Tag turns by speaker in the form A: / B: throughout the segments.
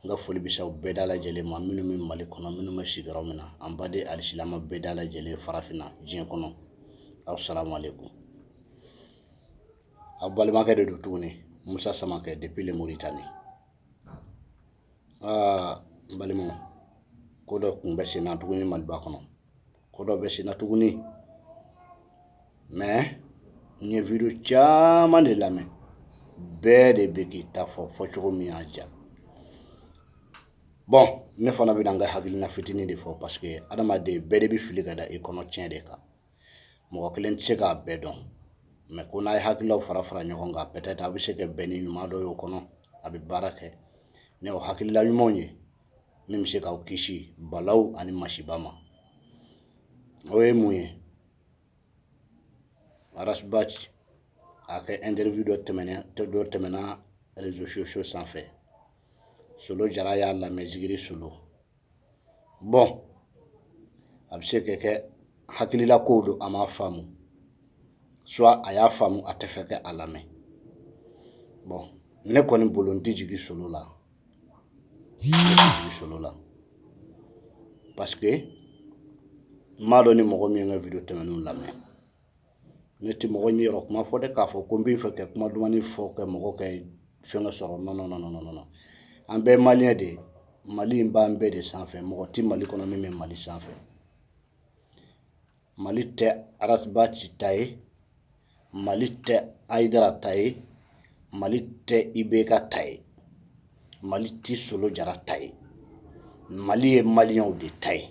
A: N ka foli bɛ se aw bɛɛ da lajɛlen ma minnu bɛ mali kɔnɔ minnu bɛ sigiyɔrɔ min na an baden alisilama bɛɛ da lajɛlen farafinna diɲɛ kɔnɔ aw salamu aleykum aw balimakɛ de don tuguni musa samakɛ depuis le Mauritanie aa n balimaw ko dɔ kun bɛ senna tuguni maliba kɔnɔ Ko dɔ bɛ senna tuguni mais n ye video caman de lamɛn bɛɛ de bɛ k'i ta fɔ fɔ cogo min y'a diya bon ne fana bɛna n ka hakilina fitinin de fɔ parce que adamaden bɛɛ de bɛ fili ka da i kɔnɔ tiɲɛ de kan mɔgɔ kelen tɛ se k'a bɛɛ dɔn mais ko n'a ye hakililaw fara fara ɲɔgɔn kan peut-être a bɛ se ka bɛn ni ɲuman dɔ y'o kɔnɔ a bɛ baara kɛ ni o hakilila ɲumanw ye min bɛ se k'aw kisi balaw ani masiba ma o ye mun ye arasbaci a kɛ interview dɔ tɛmɛna réseaux sociaux sanfɛ solo jara y'a lamɛn zikiri solo bon a bɛ se ka kɛ hakilila kow don a m'a faamu soit a y'a faamu a tɛ fɛ kɛ a lamɛn bon ne kɔni bolo n tɛ jigin solo la solo la parce que n m'a dɔn ni mɔgɔ min ye n ka video tɛmɛnenw lamɛn ne tɛ mɔgɔ ɲɛ yɔrɔ kuma fɔ dɛ k'a fɔ ko n bɛ fɛ kɛ kuma dumani fɔ kɛ mɔgɔ kɛ fɛnkɛ sɔrɔ non non non an bɛɛ maliyɛn de ye mali in b'an bɛɛ de sanfɛ mɔgɔ tɛ mali kɔnɔ min bɛ mali sanfɛ mali tɛ arasbaci ta ye mali tɛ hayidara ta ye mali tɛ IBK ta ye mali tɛ solo jara ta ye mali ye maliyɛnw de ta ye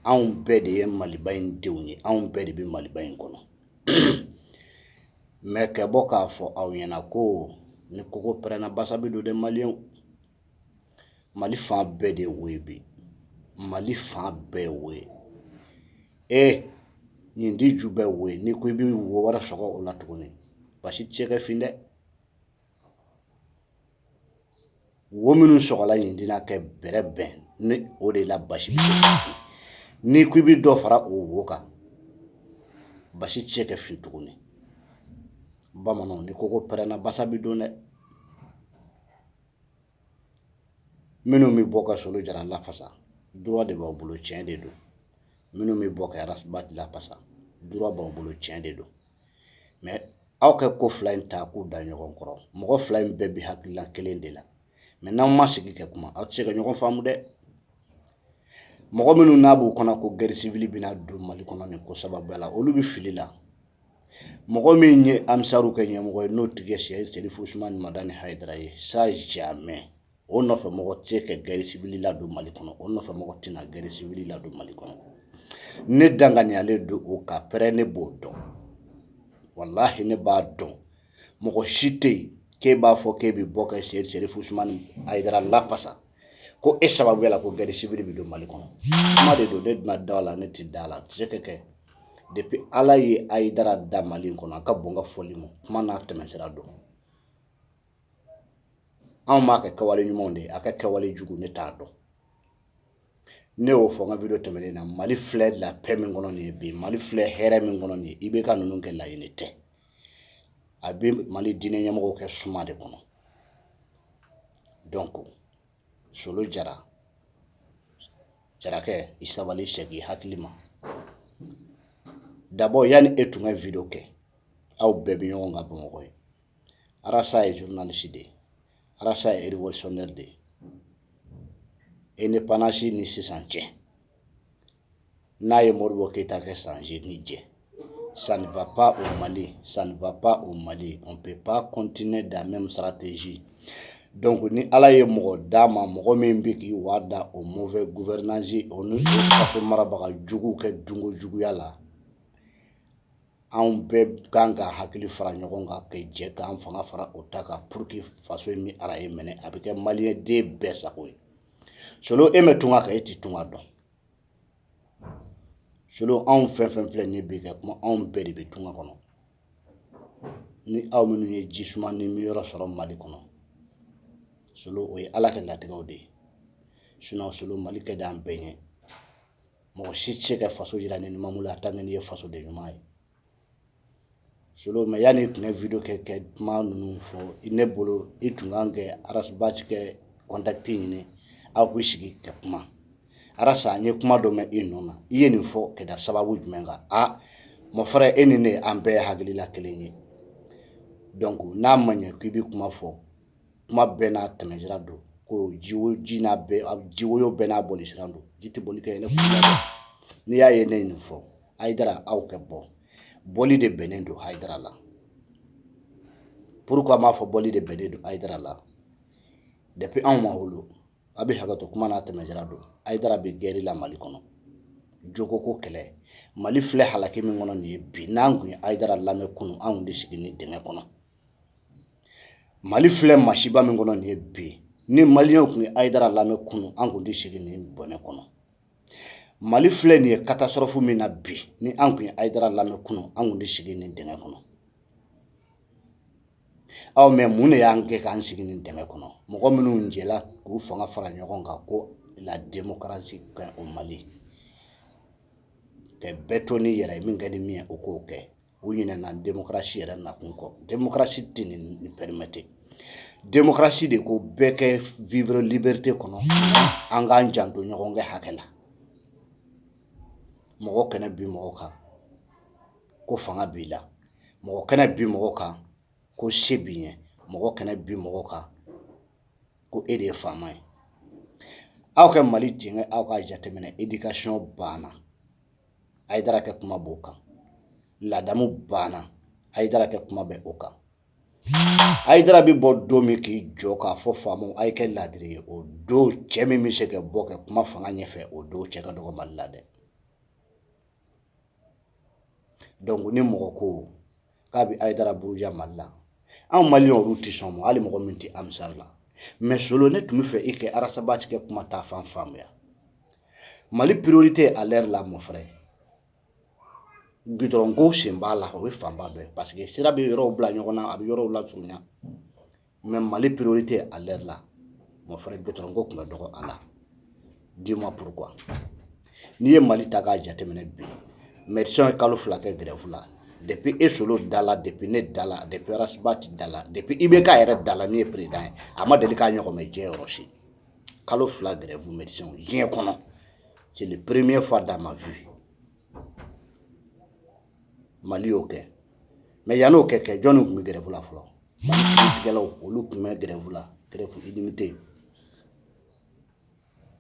A: anw bɛɛ de ye maliba in denw ye anw bɛɛ de bɛ maliba in kɔnɔ mais kɛ bɔ k'a fɔ aw ɲɛna ko ni kogo pɛrɛnna basa bɛ don dɛ maliyɛnw mali fan bɛɛ de wo ye bi mali fan bɛɛ wo ye e ɲintin ju bɛɛ wo ye n'i ko i bɛ wo wɛrɛ sɔgɔ o la tuguni basi tɛ se ka fin dɛ wo minnu sɔgɔla ɲintin na kɛ bɛrɛbɛn ni o de la basi bɛ se ka fin n'i ko i bɛ dɔ fara o wo kan basi tɛ se ka fin tuguni bamananw ni kogo pɛrɛnna basa bɛ don dɛ minnu bɛ bɔ ka solo jara lafasa droit de b'aw bolo tiɲɛ de don minnu bɛ bɔ ka arasbaci lafasa droit b'aw bolo tiɲɛ de don mais aw ka ko fila in ta k'u da ɲɔgɔn kɔrɔ mɔgɔ fila in bɛɛ bɛ hakilila kelen de la mais n'aw ma sigi kɛ kuma aw tɛ se ka ɲɔgɔn faamu dɛ mɔgɔ minnu n'a b'u kɔnɔ ko guerre civile bɛna don mali kɔnɔ nin ko sababuya la olu bɛ fili la mɔgɔ min ye ansaru ka ɲɛmɔgɔ ye n'o tigi ye serifu usumani madani hayidara ye ça jamais o nɔfɛ mɔgɔ tɛ ka guerre civile ladon mali kɔnɔ o nɔfɛ mɔgɔ tɛna guerre civile ladon mali kɔnɔ ne danganiyalen don o kan pɛrɛ ne b'o dɔn walahi ne b'a dɔn mɔgɔ si tɛ yen k'e b'a fɔ k'e bɛ bɔ ka serifu usumani hayidara lafasa ko e sababu la ko guerre civile bɛ don mali kɔnɔ kuma de don ne tɛna da a la ne tɛ da a la a tɛ se ka kɛ depuis ala ye hayidara da mali kɔnɔ a ka bon ka fɔli ma kuma n'a tɛmɛsira don anw b'a ka kɛwale ɲumanw de ye a ka kɛwale jugu ne t'a dɔn ne y'o fɔ n ka video tɛmɛnen na mali filɛ la paix min kɔnɔ nin ye bi mali filɛ hɛrɛ min kɔnɔ nin ye IBK ninnu ka laɲini tɛ a bɛ mali diinɛ ɲɛmɔgɔw ka suma de kɔnɔ donc solo jara jarakɛ i sabali segin i hakili ma d'abord yanni e tun ka video kɛ aw bɛɛ bɛ ɲɔgɔn kan bamakɔ yen arasa ye journaliste de ye arasa ye révolutionnaire de ye indépendance ni sisan cɛ n'a ye modibo keyita ka san seegin jɛ ça ne va pas au mali ça ne va pas au mali on peut pas continuer dans la même stratégie donc ni ala ye mɔgɔ d'an ma mɔgɔ min bɛ k'i waa da o mauvais gouvernance o ni faso marabaga jugu kɛ dunko juguya la anw bɛɛ kan ka hakili fara ɲɔgɔn kan ka jɛ k'an fanga fara o ta kan pour que faso in ni ara ye minɛ a bɛ kɛ maliden bɛɛ sago ye solo e ma tunga kɛ e tɛ tunga dɔn solo anw fɛn fɛn filɛ nin bi ka kuma anw bɛɛ de bɛ tunga kɔnɔ ni aw minnu ye ji sumanin minyɔrɔ sɔrɔ mali kɔnɔ solo o ye ala ka latigɛw de ye sinɔn solo mali ka di an bɛɛ ɲɛ mɔgɔ si tɛ se ka faso jira ni numan bolo la tant que n'i ye fasoden ɲuman ye solo mais yanni i tun ka video kɛ ka kuma ninnu fɔ i ne bolo i tun kan ka arasibati ka contact ɲini aw bɛ sigi ka kuma arasa n ye kuma dɔ mɛn e nɔ na i ye nin fɔ ka da sababu jumɛn kan a mon frère e ni ne an bɛɛ hakilila kelen ye donc n'a ma ɲɛ k'i bɛ kuma fɔ kuma bɛɛ n'a tɛmɛsira don ko ji ji woyo bɛɛ n'a bolisira don ji tɛ boli kɛ n'i y'a ye ne ye nin fɔ hayidara aw ka bɔ bɔli de bɛnnen don hayidara la pourquoi m'a fɔ bɔli de bɛnnen don hayidara la depuis anw ma wolo a bɛ hakɛto kuma n'a tɛmɛsira don hayidara bɛ guerre la mali kɔnɔ jogo ko kɛlɛ mali filɛ halaki min kɔnɔ nin ye bi n'an tun ye hayidara lamɛn kunun an tun tɛ sigi nin dingɛ kɔnɔ mali filɛ masiba min kɔnɔ nin ye bi ni maliyɛnw tun ye hayidara lamɛn kunun an tun tɛ sigi nin bɔnɛ kɔnɔ mali filɛ nin ye catastrophe min na bi ni an tun ye ayidara lamɛn kunun an tun tɛ sigi nin dingɛ kɔnɔ aw mais mun de y'an kɛ k'an sigi nin dingɛ kɔnɔ mɔgɔ minnu jɛla k'u fanga fara ɲɔgɔn kan ko la démocratie kɛ au mali ka bɛɛ to n'i yɛrɛ ye min ka di min ye o k'o kɛ u ɲinɛna démocratie yɛrɛ nakun kɔ démocratie tɛ nin permettre démocratie de ko bɛɛ kɛ vivre liberté kɔnɔ an k'an janto ɲɔgɔn kɛ hakɛ la mɔgɔ kɛnɛ bi mɔgɔ kan ko fanga b'i la mɔgɔ kɛnɛ bi mɔgɔ kan ko se b'i ye mɔgɔ kɛnɛ bi mɔgɔ kan ko e de ye faama ye aw ka mali jɛngɛ aw k'a jateminɛ éducation banna ayidara kɛ kuma b'o kan ladamu banna ayidara kɛ kuma bɛ o kan ayidara bɛ bɔ don min k'i jɔ k'a fɔ faamaw a ye kɛ laadiri ye o don cɛ min bɛ se ka bɔ kɛ kuma fanga ɲɛfɛ o don cɛ ka dɔgɔ mali la dɛ donc ni mɔgɔ ko k'a bɛ Ayidara buruja Mali la anw maliyɛnw olu tɛ sɔn o ma hali mɔgɔ min tɛ ansari la mais solo ne tun bɛ fɛ i kɛ arasabati kɛ kuma ta fan faamuya mali priorité à l'heure la mon frère gudɔrɔnko sen b'a la o ye fanba dɔ ye parce que sira bɛ yɔrɔw bila ɲɔgɔn na a bɛ yɔrɔw lasurunya mɛ mali piriori tɛ a lɛri la ma fɔra gtko tun ka dɔgɔ a la di ma purk n'i ye mali ta k'a jateminɛ bi mɛ ye kalo fila kɛ gɛrɛfu la de bɛ e solo da la de bɛ ne da la de bɛsiba tɛ da la de i bɛ k'a yɛrɛ da la min ye pered ye a ma deli k'a ɲɔgɔn mɛ diɲɛ yɔrɔ si kalo fila gɛrɛfu mɛ diɲɛ kɔnɔ cɛ perereme fa d'a ma fi mali y'o kɛ mais yann'o kɛ kɛ jɔn tun bɛ grève la fɔlɔ kiiritigɛlaw olu tun bɛ grève la grève illimitée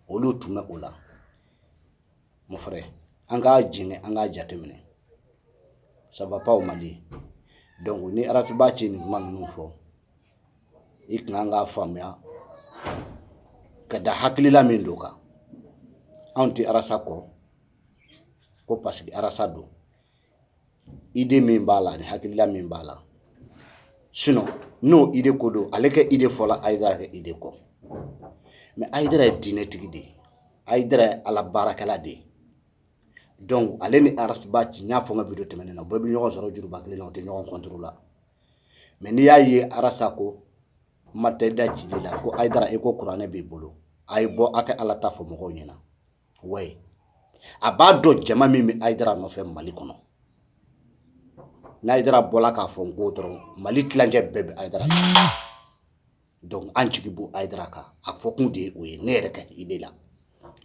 A: olu tun bɛ o la mon frère an k'a jɛngɛ an k'a jateminɛ ça va pas au mali donc ni arasabati ye nin kuma ninnu fɔ i tun kan k'a faamuya ka da hakilila min don kan anw tɛ arasa kɔ ko parce que arasa don idée min b'a la ni hakilila min b'a la sinon n'o idée ko don ale kɛ idée fɔla ayidara kɛ idée kɔ mais ayidara ye diinɛtigi de ye ayidara ye ala baarakɛla de ye donc ale ni arasabati n y'a fɔ n ka vidéo tɛmɛnen na u bɛɛ bɛ ɲɔgɔn sɔrɔ juruba kelen na u tɛ ɲɔgɔn contre la mais n'i y'a ye arasa ko ma tɛ da ci la ko ayidara e ko kuranɛ b'i bolo a ye bɔ a kɛ ala ta fɔ mɔgɔw ɲɛna wa a b'a dɔn jama min bɛ ayidara nɔfɛ mali kɔnɔ n'ayidara bɔla k'a fɔ n ko dɔrɔn mali tilancɛ bɛɛ bɛ ayidara donc an jigi b'o ayidara kan a fɔkun de ye o ye ne yɛrɛ ka idée la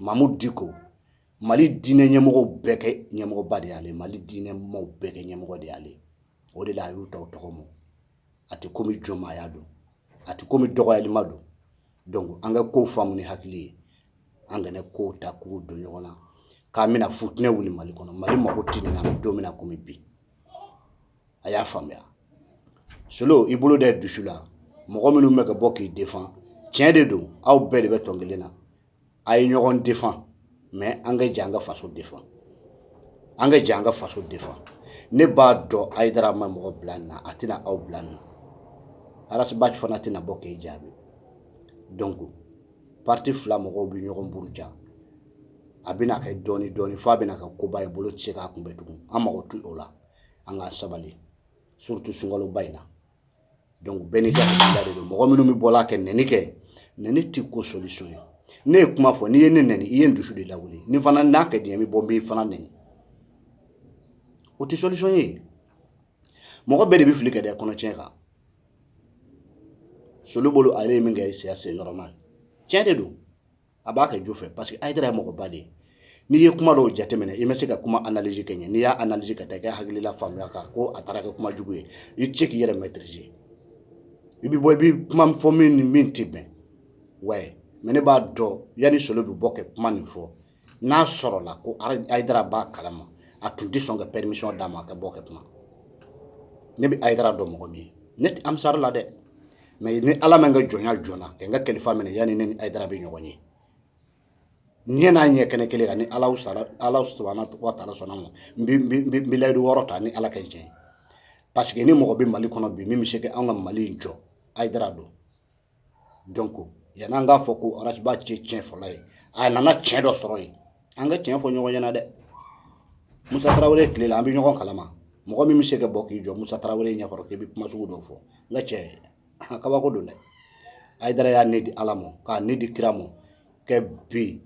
A: mamudu diko mali diinɛ ɲɛmɔgɔw bɛɛ kɛ ɲɛmɔgɔba de y'ale mali diinɛmaw bɛɛ kɛ ɲɛmɔgɔ de y'ale o de la a y'u ta tɔgɔ ma a tɛ komi jɔnmaaya don a tɛ komi dɔgɔyalima don donc an ka kow faamu ni hakili ye an kana kow ta k'u don ɲɔgɔn na k'an bɛna futinɛ wuli mali kɔnɔ mali mago tɛ nin na don min na komi bi a y'a faamuya solo i bolo da i dusu la mɔgɔ minnu bɛ ka bɔ k'i défend tiɲɛ de don aw bɛɛ de bɛ tɔn kelen na a ye ɲɔgɔn défend mais an ka jɛ an ka faso défend an ka jɛ an ka faso défend ne b'a dɔn ayidara ma mɔgɔ bila nin na a tɛna aw bila nin na arasiba fana tɛna bɔ k'e jaabi donc parti fila mɔgɔw bɛ ɲɔgɔn buruja a bɛna kɛ dɔɔni dɔɔni fo a bɛna kɛ koba ye bolo tɛ se k'a kunbɛn tugun an mago t'o la an ka sabali surtout sunkaloba in na Donc bɛɛ n'i ka hakilila de don mɔgɔ minnu bɛ bɔla ka nɛni kɛ nɛni tɛ ko solution ye ne ye kuma fɔ n'i ye ne nɛni i ye n dusu de lawuli ne fana n'a ka di n ye n bɛ bɔ n b'i fana nɛni o tɛ solution ye mɔgɔ bɛɛ de bɛ fili ka da kɔnɔtiɲɛ kan solo bolo ale ye min kɛ c'est normal tiɲɛ de don a b'a kɛ jo fɛ parce que ayidara ye mɔgɔba de ye n'i ye kuma dɔw jateminɛ i ma se ka kuma analyse ka ɲɛ n'i y'a analyse ka taa i ka hakilila faamuya kan ko a taara kɛ kuma jugu ye i tɛ se k'i yɛrɛ maîtriser i bɛ bɔ i bɛ kuma fɔ min ni min tɛ bɛn ouais mais ne b'a dɔn yanni solo bɛ bɔ ka kuma nin fɔ n'a sɔrɔla ko ayidara b'a kalama a tun tɛ sɔn ka permission d'a ma a ka bɔ ka kuma ne bɛ ayidara dɔn mɔgɔ min ye ne tɛ ansari la dɛ mais ni ala ma n ka jɔnya joona ka n ka kalifa minɛ yanni ne ni ayidara bɛ ɲɔgɔn ye ɲɛ n'a ɲɛ kɛnɛ kelen kan ni ala sara ala subahana wa taala sɔnn'a ma n bɛ n bɛ n bɛ layidu wɔɔrɔ ta ni ala ka jɛn ye parce que ni mɔgɔ bɛ mali kɔnɔ bi min bɛ se ka an ka mali in jɔ ayidara don donc yan'an k'a fɔ ko arasiba tɛ tiɲɛfɔla ye a nana tiɲɛ dɔ sɔrɔ yen an ka tiɲɛ fɔ ɲɔgɔn ɲɛna dɛ musa tarawele tile la an bɛ ɲɔgɔn kalama mɔgɔ min bɛ se ka bɔ k'i jɔ musa tarawele ɲɛkɔrɔ k'i bɛ kuma sugu dɔw fɔ n ka cɛ kabako don dɛ ayidara y'a ni di ala ma k'a ni di kira ma kɛ bi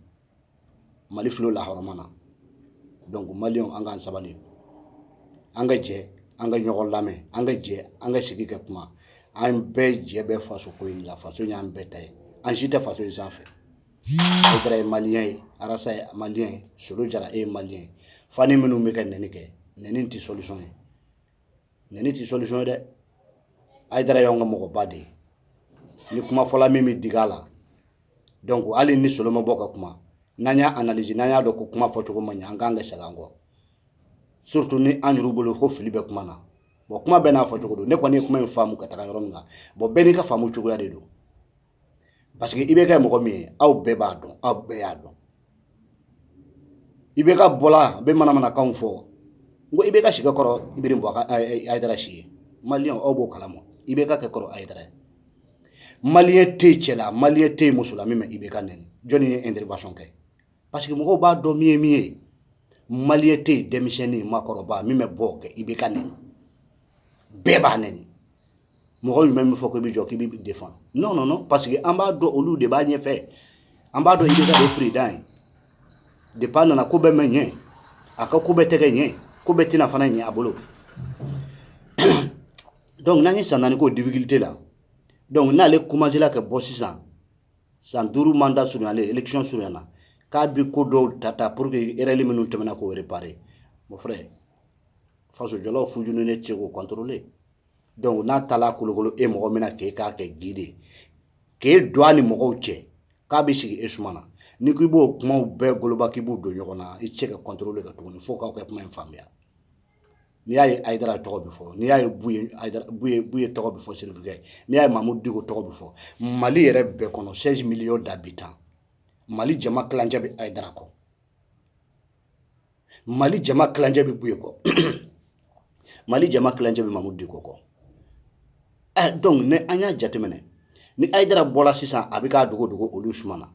A: mali filɛ lahɔrɔma na donc maliyɛnw an k'an sabali an ka jɛ an ka ɲɔgɔn lamɛn an ka jɛ an ka sigi ka kuma an bɛɛ jɛ bɛ faso ko in la faso y'an bɛɛ ta ye an si tɛ faso in sanfɛ Ayidara ye maliyɛn ye arasa ye maliyɛn ye solo jara e ye maliyɛn ye fani minnu bɛ ka nɛni kɛ nɛni tɛ solution ye nɛni tɛ solution ye dɛ ayidara y'an ka mɔgɔba de ye ni kuma fɔla min bɛ digi a la donc hali ni solo ma bɔ ka kuma n'an y'a analyse n'an y'a dɔn ko kuma fɔ cogo ma ɲɛ an k'an ka segin an kɔ surtout ni an yɛrɛ bolo ko fili bɛ kuma na bon kuma bɛɛ n'a fɔ cogo don ne kɔni ye kuma in faamu ka taa yɔrɔ min na bon bɛɛ n'i ka faamu cogoya de don parce que IBK mɔgɔ min ye aw bɛɛ b'a dɔn aw bɛɛ y'a dɔn IBK bɔla a bɛ manamanakanw fɔ n ko IBK si kɔrɔ i bɛ bɔ ayidara si ye maliyɛn aw b'o kalama IBK ka kɔrɔ ayidara ye maliyɛn tɛ yen cɛ la maliyɛn tɛ yen muso la min ma IBK nɛni jɔnni ye intervention kɛ parce que mɔgɔw b'a dɔn min ye min ye maliyɛn tɛ yen denmisɛnnin maakɔrɔba min bɛ bɔ ka IBK nɛni bɛɛ b'a nɛni mɔgɔ jumɛn min fɔ k'i bɛ jɔ k'i bɛ défend non non non parce que an b'a dɔn olu de b'a ɲɛfɛ an b'a dɔn IBK kɛ président ye depuis a nana ko bɛɛ ma ɲɛ a ka ko bɛɛ tɛ kɛ ɲɛ ko bɛɛ tɛna fana ɲɛ a bolo donc n'an ye san naani k'o difficulté la donc n'ale commencé la ka bɔ sisan san duuru mandat surunyalen élection surunyana k'a bɛ ko dɔw ta ta pour que erreur minnu tɛmɛna k'o réparer mon frère faso jɔlaw fujuni ne tɛ se k'o contrôler donc n'a taala kolokolo e mɔgɔ min na k'e k'a kɛ guide k'e don a ni mɔgɔw cɛ k'a bɛ sigi e suma na n'i ko i b'o kumaw bɛɛ goloba k'i b'u don ɲɔgɔn na i tɛ se ka contrôler ka tuguni fo k'aw kɛ kuma in faamuya n'i y'a ye ayidara tɔgɔ bɛ fɔ n'i y'a ye buye tɔgɔ bɛ fɔ sirifukɛ n'i y'a ye mamudu diko tɔgɔ bɛ fɔ mali yɛrɛ bɛɛ kɔnɔ seize millions d'habitants mali jama kilancɛ bɛ ayidara kɔ mali jama kilancɛ bɛ buye kɔ mali jama kilancɛ bɛ mamudu diko kɔ ɛ eh, donc ni an y'a jateminɛ ni ayidara bɔla sisan a bɛ k'a dogo dogo olu suma na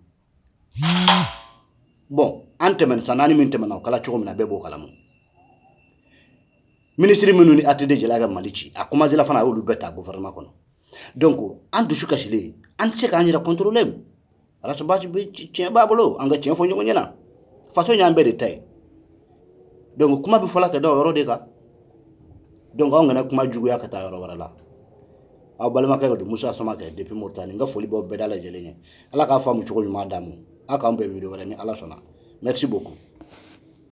A: bon an tɛmɛn san naani min tɛmɛna o kɛla cogo min na bɛɛ b'o kalama minisiri minnu ni ATT jɛla ka mali ci a commencé la fana a y'olu bɛɛ ta gouvernement kɔnɔ donc an dusu kasilen an tɛ se k'an yɛrɛ contrôler Ras Bath tiɲɛ b'a bolo an ka tiɲɛ fɔ ɲɔgɔn ɲɛna faso y'an bɛɛ de ta ye donc kuma bɛ fɔla ka da o yɔrɔ de kan donc anw kana kuma juguya ka taa yɔrɔ wɛrɛ la aw balimakɛ de don musa samakɛ depuis moritani n ka foli b'aw bɛɛ da lajɛlen ye ala k'a faamu cogo ɲuman d'an ma aw k'an bɛn video wɛrɛ ni ala sɔnna merci beaucoup